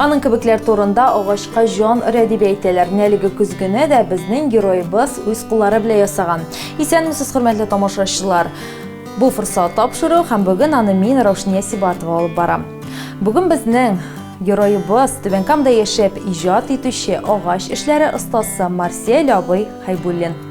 Аның кебекләр турында агачка җан өрә дип әйтәләр. Менә әлеге көзгене дә безнең героебыз үз куллары белән ясаган. Исәнмесез, хөрмәтле тамашачылар! Бу форсат тапшыру һәм бүген аны мин Раушния Сибатова алып барам. Бүген безнең героебыз Түбән Камда яшәп иҗат итүче агач эшләре остасы Марсель абый Хәйбуллин.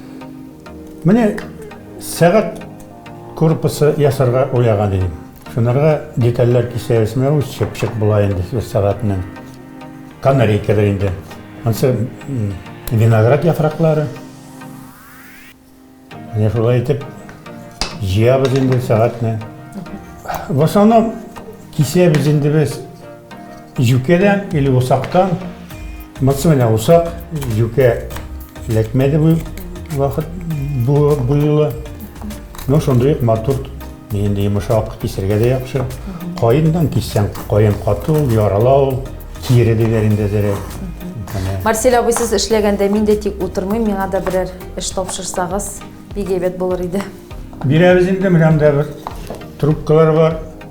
Менә сәгать корпусы ясарга уйлаган идем. Шунарга детальләр кисәбез, менә ул чыпчык була инде сүз сәгатеннән. Канарейкадыр инде. Ансы виноград яфраклары. Менә шулай итеп җыябыз инде сәгатьне. В основном кисәбез инде без Юкәдән или усактан, мыцы менә усак, юкә эләкмәде бу вакыт бу буйлы. Ну, шундый ук матур, инде йомшак, кисергә дә яхшы. Каендан киссәң, каен каты ул, ярала ул, кире диләр инде әзерәк. Марсель абый, сез эшләгәндә мин дә тик утырмыйм, миңа да берәр эш тапшырсагыз, бик әйбәт булыр иде. Бирәбез инде, менә монда бер трубкалар бар.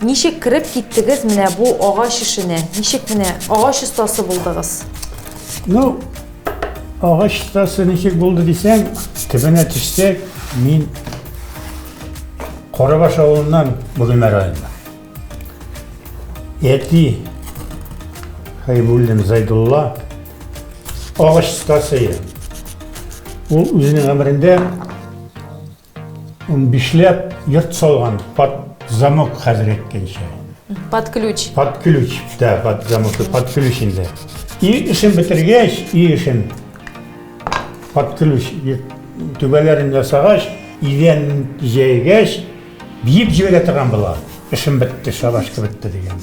Ничек кереп киттегез менә бу агач эшенә? Ничек менә агач остасы булдыгыз? Ну, агач остасы ничек булды дисәң, төбенә төшсәк, мин Корабаш авылыннан Бөгелмә районына. Әти Хәйбуллин Зайдулла агач остасы. Ул үзенең гомерендә Унбишләп йорт салган под замок хәзер әйткәнчә. Под ключ. Под ключ, да, под замок, под ключ инде. И эшен бетергәч, и эшен под ключ түбәләрен ясагач, идән җәйгәч, биеп җибәрә торган була. Эшем бетте, шабашка бетте дигән.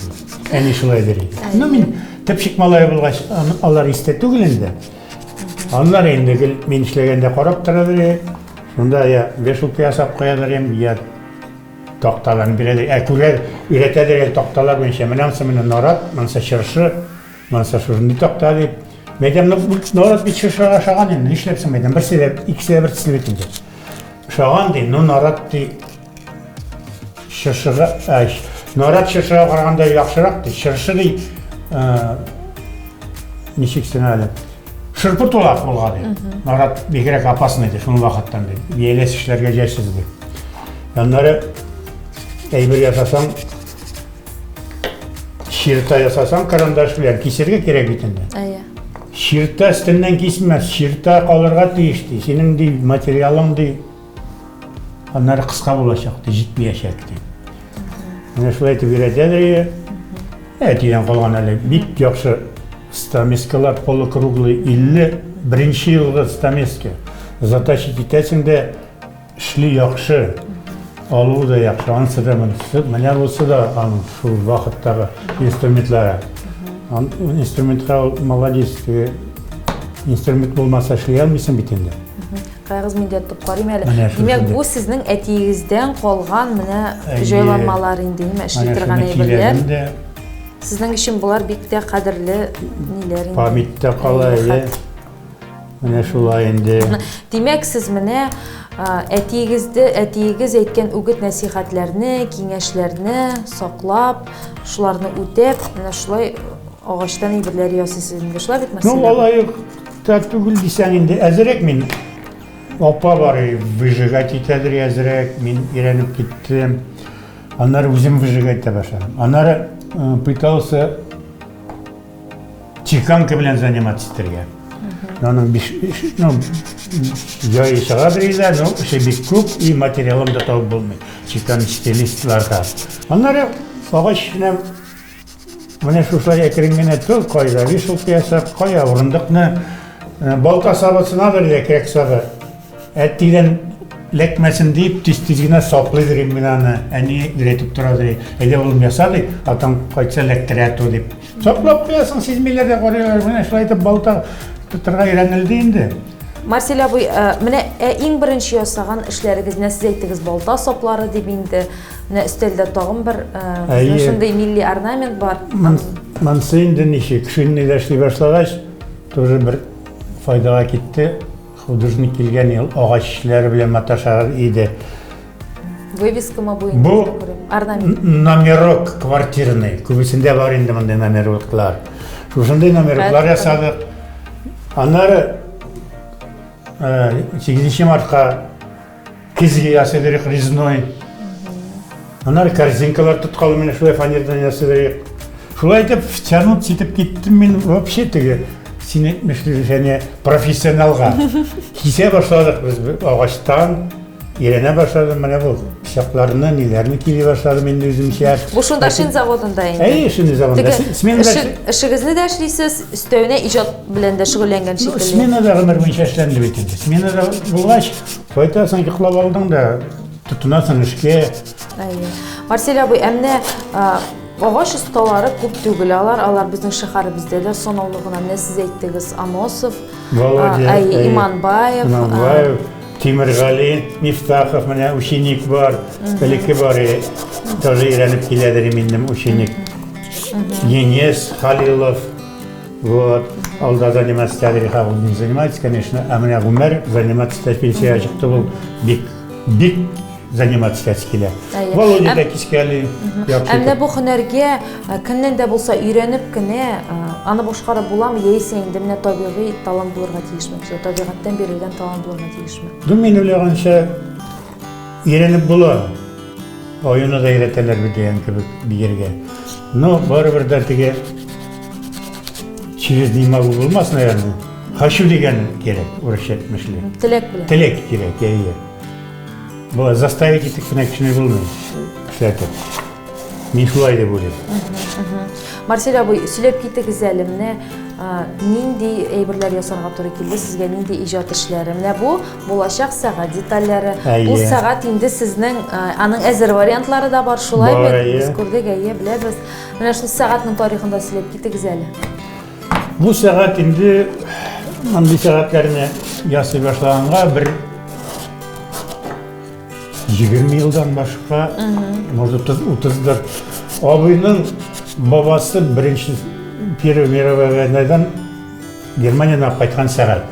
Әни шулай дер иде. Ну, мин тепшик малае булгач, алар истә түгел инде. Аннары инде гел мин эшләгәндә карап торалар иде. Шунда я вешалка ясап куялар иде, я такталарны бирәләр. Ә күрә өйрәтәләр әле такталар буенча. Менә ансы менә нарат, монысы чыршы, монысы шушындый такта дип. Мәйдәм нарат бит чыршыга ошаган инде. Нишләп соң мәйдәм? Берсе дә, икесе дә бер төсле бит инде. Ошаган ди, ну нарат ди, Чыршыга, ә, нарат чыршыга караганда яхшырак ди. Чыршы ди, ә, ничек син әле? Шырпы тулак булган ди. Нарат бигрәк опасный ди, шуның вакыттан ди. Бияләс эшләргә җайсыз ди. Аннары әйбер ясасаң, чирта ясасаң карандаш белән кисергә кирәк бит инде. Әйе. Чирта өстеннән кисмәс, чирта калырга тиеш ди. Синең ди материалың ди Аннары кыска булачак, ди, җитмәячәк, ди. Менә шулай итеп өйрәтәдер иде. Әтидән калган әле бик яхшы стамескалар полукруглый 50 беренче елгы стамеска. Затащи китәсең дә эшли яхшы, алу да яхшы, анысы да монысы. Менә бусы да аның шул вакыттагы инструментлары. Инструментка молодец, инструмент булмаса эшли алмыйсың бит инде. Кайгыз мин дә тотып карыйм әле. Димәк, бу сезнең әтиегездән калган менә җайланмалар инде, нимә эшли торган әйберләр. Сезнең өчен болар бик тә кадерле ниләр инде. Памятьтә кала, әйе. Менә шулай инде. Димәк, сез менә әтиегезде, әтиегез әйткән үгет-нәсихәтләрне, киңәшләрне саклап, шуларны үтәп, менә шулай агачтан әйберләр ясыйсыз инде. Шулай бит, Марселя? Ну, алай ук. Тә түгел дисәң инде, әзрәк мин. Апа бар, выжигать итәдер әзрәк, мин өйрәнеп киттем. Аннары үзем выжигать итә башладым. Аннары пытался чеканка белән заниматься итәргә. Аның биш, ну, яйы чыгадыр инде, но эше бик күп и материалым да табып булмый. Чекан стилистларга. Аннары агач белән Менә шушылай әкрен генә тор, кайда вешалка ясап, кая урындыкны, балта сабысынадыр йә кирәк сабы. Әттидән ләкмәсен дип, тиз-тиз генә саплыйдыр инде менә аны. Әни өйрәтеп торадыр. Әйдә улым яса ди, атаң кайтса ләктерә ту дип. Саплап куясың, сизмиләр дә карыйлар. Менә шулай итеп балта тотарга өйрәнелде инде. Марсель абый, менә иң беренче ясаган эшләрегез, менә сез әйттегез, балта саплары дип инде. Менә өстәлдә тагын бер э, шундый милли орнамент бар. Монсы инде ничек, шинный дә эшли башлагач, тоже бер файдага китте. Художник килгән ел агач эшләре белән маташар иде. Вывеска ма буенча? Бу орнамент. Номерок квартирный. Күбесендә бар инде мондый номероклар. Шушындый номероклар ясадык. Аннары 8 э, мартка Кизге ясый берек резной. Анар корзинкалар тоткалы менә шулай фанердан ясый берек. Шулай итеп, втянут ситеп киттем мин вообще теге син әйтмешли және профессионалга. Кисә башладык без агачтан, Иренә башладым, менә бу пычакларны, ниләрне кили башладым инде үземчә. Бу шунда шин заводында инде. Әйе, шин заводында. Сменада эшегезне дә эшлисез, өстәвенә иҗат белән дә шөгыльләнгән шикелле. Сменада гомер буенча эшләнде бит инде. Сменада булгач, Кайтасың, йоклап алдың да, тотынасың эшкә. Әйе. Марсель абый, ә менә Агач осталары күп түгел, алар алар безнең шәһәребездә дә санаулы гына. Менә сез әйттегез, Аносов, Володя, ә, Иманбаев, Иманбаев, Тимиргали Мифтахов, менә ученик бар, элекке бар, даже өйрәнеп киләдер инде ученик. Енес Халилов, Вот, алда заниматься тәрихә ул не занимается, конечно, ә менә гомер заниматься пенсия чыкты ул бик, бик заниматься итәсе килә. Володя да кискәли. Ә менә бу һөнәргә э, кемнән дә булса өйрәнеп кенә э, аны башкарып буламы, яисә инде менә табигый талант булырга тиешме? Табигатьтән бирелгән талант булырга тиешме? Ду мин уйлаганча, Өйрәнеп була. Аюны да өйрәтәләр бит дигән кебек биергә. Но барыбер дә теге через не могу булмас, наверное. Хочу дигән кирәк, урысча әйтмешли. Теләк белән. Теләк кирәк, әйе. Бу заставить итеп кенә кешене булмый. Эшләтеп. Мин шулай дип уйлыйм. Марсель абый, сөйләп китегез әле, менә нинди әйберләр ясарга туры килде сезгә, нинди иҗат эшләре. Менә бу булачак сәгать детальләре. Бу сәгать инде сезнең аның әзер вариантлары да бар, шулай бит? Без күрдек, әйе, беләбез. Менә шул сәгатьнең тарихында сөйләп китегез әле. Бу сәгать инде мондый сәгатьләрне ясый башлаганга бер 20 елдан башка, может 30-дыр. Абыйның бабасы беренче Первая мировая войнадан Германиядан алып кайткан сәгать.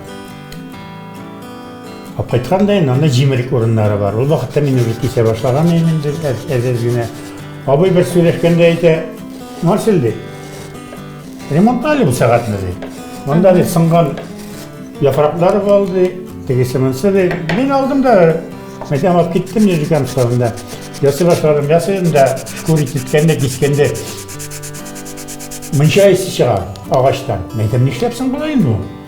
Алып кайткан да инде анда җимерек урыннары бар. Ул вакытта мин үзе кисә башлаган идем инде әзәз генә. Абый бер сөйләшкәндә әйтә, Марсель ди, Ремонтта әле бу сәгатьне ди. Монда ди сынган яфраклар бар ди, тегесе монсы ди. Мин алдым да мәсәлән алып киттем җиркәм сабында. Ясый башладым, ясыйм да шкури киткәндә, кискәндә мунча исе чыга агачтан. Мәйтәм нишләпсең болай инде?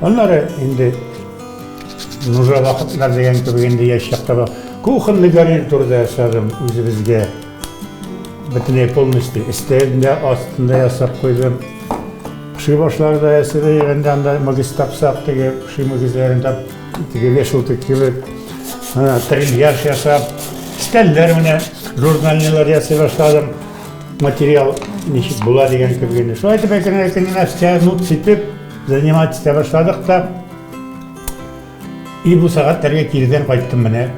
Аннары инде нужа вакытлар дигән кебек инде яшь чакта бар. Кухонный гарнир турында ясадым үзебезгә. Бөтенләй полностью өстәлендә астында ясап куйдым. Пши башлары да ясады, егәндә анда мөгез тапсак, теге пши мөгезләрен тап, теге вешалка кебек. Ана трильяж ясап, өстәлләр менә журнальныйлар ясый башладым. Материал ничек була дигән кебек инде. Шулай итеп әкрен-әкрен нәрсә, ну, ситеп, Заниматься итә башладык та. И бу сәгатьләргә кирдән кайттым менә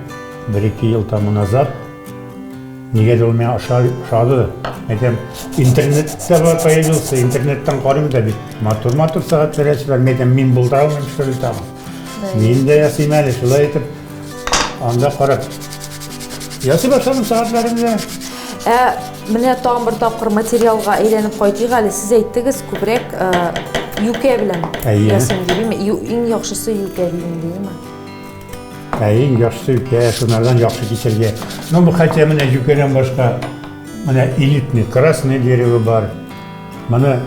бер-ике ел тому назад. Нигәдер ул миңа ошады. Әйтәм, интернетта бар появился, интернеттан карыйм да бит. Матур-матур сәгатьләр ясыйлар. Әйтәм, мин булдыра алмыйм, что ли, там. Мин дә ясыйм әле, шулай итеп, анда карап. Ясый башладым сәгатьләрен дә. Ә менә тагын бер тапкыр материалга әйләнеп кайтыйк әле. Сез әйттегез, күбрәк э, юкә белән Әйе. ясыйм дидеме? Ю- Иң яхшысы юкә дидем дидеме? Ә иң яхшысы үтә, шунардан яхшы киселгән. Ну, бу хәтта менә юкәдән башка менә элитный, красный дерево бар. Моны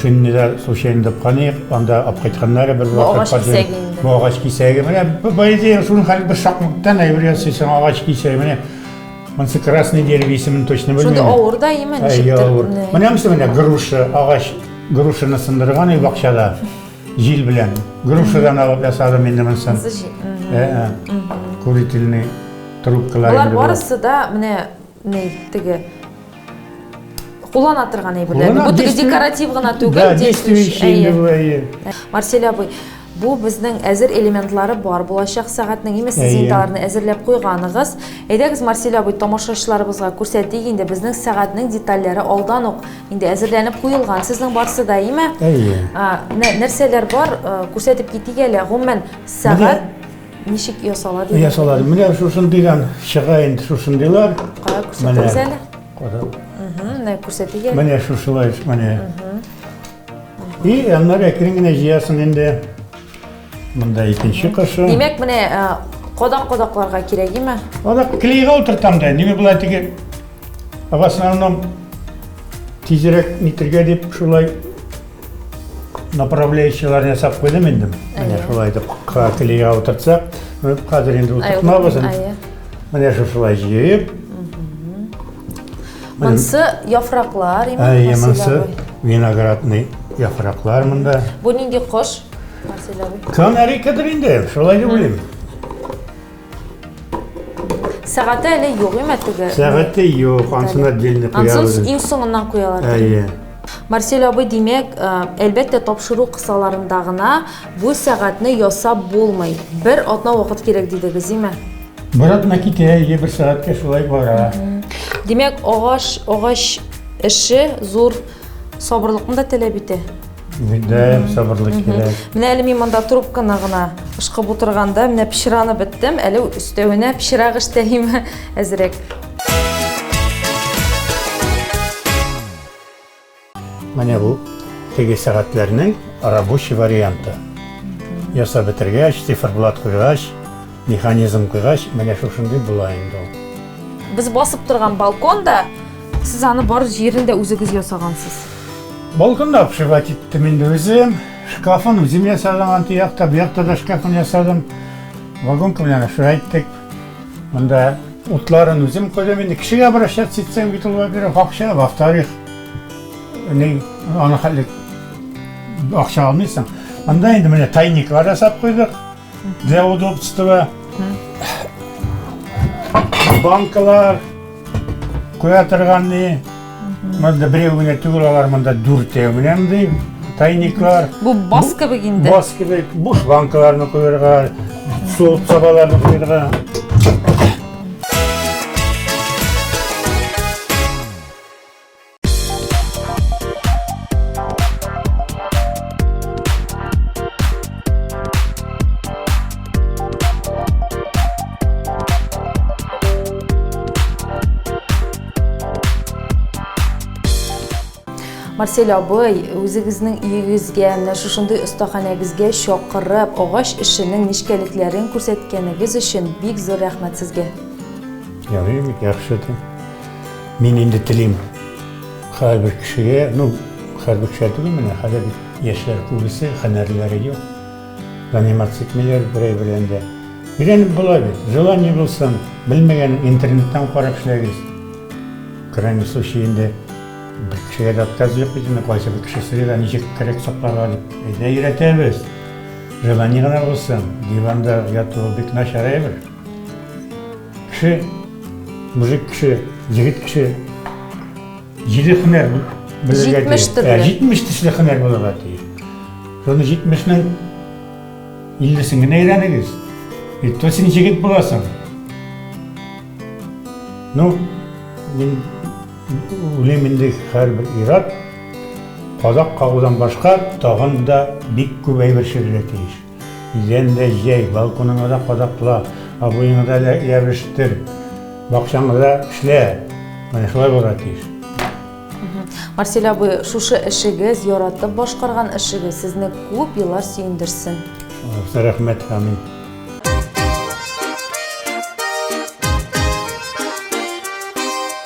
шиннилар случайно тапканык, анда алып кайтканнар бер вакыт. Агач кисәге инде. Бу агач кисәге. Менә бу бәйдә шуның хәл бер шакмыктан әйбер ясыйсың агач кисәге. Менә Монсы красный дерево исемен точно белмим. Шунда авыр да имә ничектер. Менә монсы менә груша, агач грушаны сындырган и бакчада җил белән. Грушадан алып ясадым инде монсын. Курительный трубкалар. Болар барысы да менә Ней, теге куллана торган әйберләр. Бу теге декоратив гына түгел, действующий. Марсель абый, бу безнең әзер элементлары бар булачак сәгатьнең. Имә сез инде аларны әзерләп куйганыгыз. Әйдәгез, Марсель абый, тамашачыларыбызга күрсәтик инде безнең сәгатьнең детальләре алдан ук инде әзерләнеп куелган. Сезнең барсы да, имә? Нәрсәләр бар, күрсәтеп китик әле. Гомумән, сәгать Ничек ясала дигән? Ясала. Менә шусын дигән чыга инде шусын диләр. Кара күрсәтегез әле. Менә күрсәтегез. Менә шушылай, менә. И, аннары әкрен генә җыясың инде. Монда икенче кышы. Димәк, менә кодак-кодакларга кирәк, име? Кодак клейга утыртам да. Нигә болай тиге? В основном тизрәк нитергә дип шулай направляющийларын ясап куйдым инде менә шулай итеп картелега утыртсак хәзер инде утыртмабыз менә шушылай җыеп монысы яфраклар әйе монысы виноградный яфраклар монда бу нинди кош канарейкадыр инде шулай дип уйлыйм Сәгате әле юк име теге? Сәгате юк, ансына дельне куябыз. Ансыз иң соңыннан куялар. Әйе. Марсель абый, димәк, э, әлбәттә тапшыру кысаларында гына бу сәгатьне ясап булмый. Бер атна вакыт кирәк дидегез, име? Бер атна китә, әйе, бер сәгатькә шулай бара. Димәк, агач, агач эше зур сабырлыкны да таләп итә. Бигдәем сабырлык кирәк. Менә әле мин монда трубканы гына ышкып утырганда, менә пешераны беттем, әле өстәвенә пешерак эштәйм әзрәк. Менә бу теге сәгатьләрнең рабочий варианты. Ясап бетергәч, циферблат куйгач, Механизм куйгач, менә шушындый була инде ул. Без басып торган балкон да, сез аны бар җирен дә үзегез ясагансыз. Балконда обшивать иттем инде үзем. Шкафын үзем ясадым, анты якта, бу якта да шкафын ясадым. Вагонка белән обшивать иттек. Монда утларын үзем куйдым. Инде кешегә обращаться итсәң бит ул, во-первых, акча, во-вторых, ни, аны хәл ит. Акча алмыйсың. Анда инде менә тайниклар ясап куйдык. Для удобства банкалар куя торган ни. Монда берәү генә түгел алар монда дүртәү менә мондый тайниклар. Бу бас кебек инде. Бас кебек буш банкаларны куярга, суык сабаларны куярга. Марсель абый, үзегезнең өегезгә, менә шушындый остаханәгезгә чакырып, агач эшенең нечкәлекләрен күрсәткәнегез өчен бик зур рәхмәт сезгә. Ярый, бик яхшы ди. Мин инде телим һәрбер кешегә, ну, һәрбер кешегә түгел менә, хәзер бит яшьләр күбесе һөнәрләре юк. Заниматься итмиләр берәй белән дә. Өйрәнеп була бит. Желание булсын, белмәгән интернеттан карап эшләгез. Крайний случай инде бер кешегә дә отказ юк бит инде, кайсы бер кешесе дә ничек кирәк сакларга дип. Әйдә өйрәтәбез. Желание гына булсын. Диванда яту бик начар әйбер. Кеше, мужик кеше, егет кеше, җиде хөнәр белергә тиеш. Җитмеш төрле. Җитмеш төшле хөнәр булырга тиеш. Соны җитмешнең иллесен генә өйрәнегез. И то син җегет буласың. Ну, мин үлем инде һәрбер ират, казак кагудан башка тагын да бик күп әйбер чирергә тиеш. Идәндә җәй, балконыңа да кадакла, абыеңа да ябештер, бакчаңда да эшлә. Менә шулай булырга тиеш. Марсель абый, шушы эшегез, яратып башкарган эшегез сезне күп еллар сөендерсен. Аллаһтан рәхмәт, амин.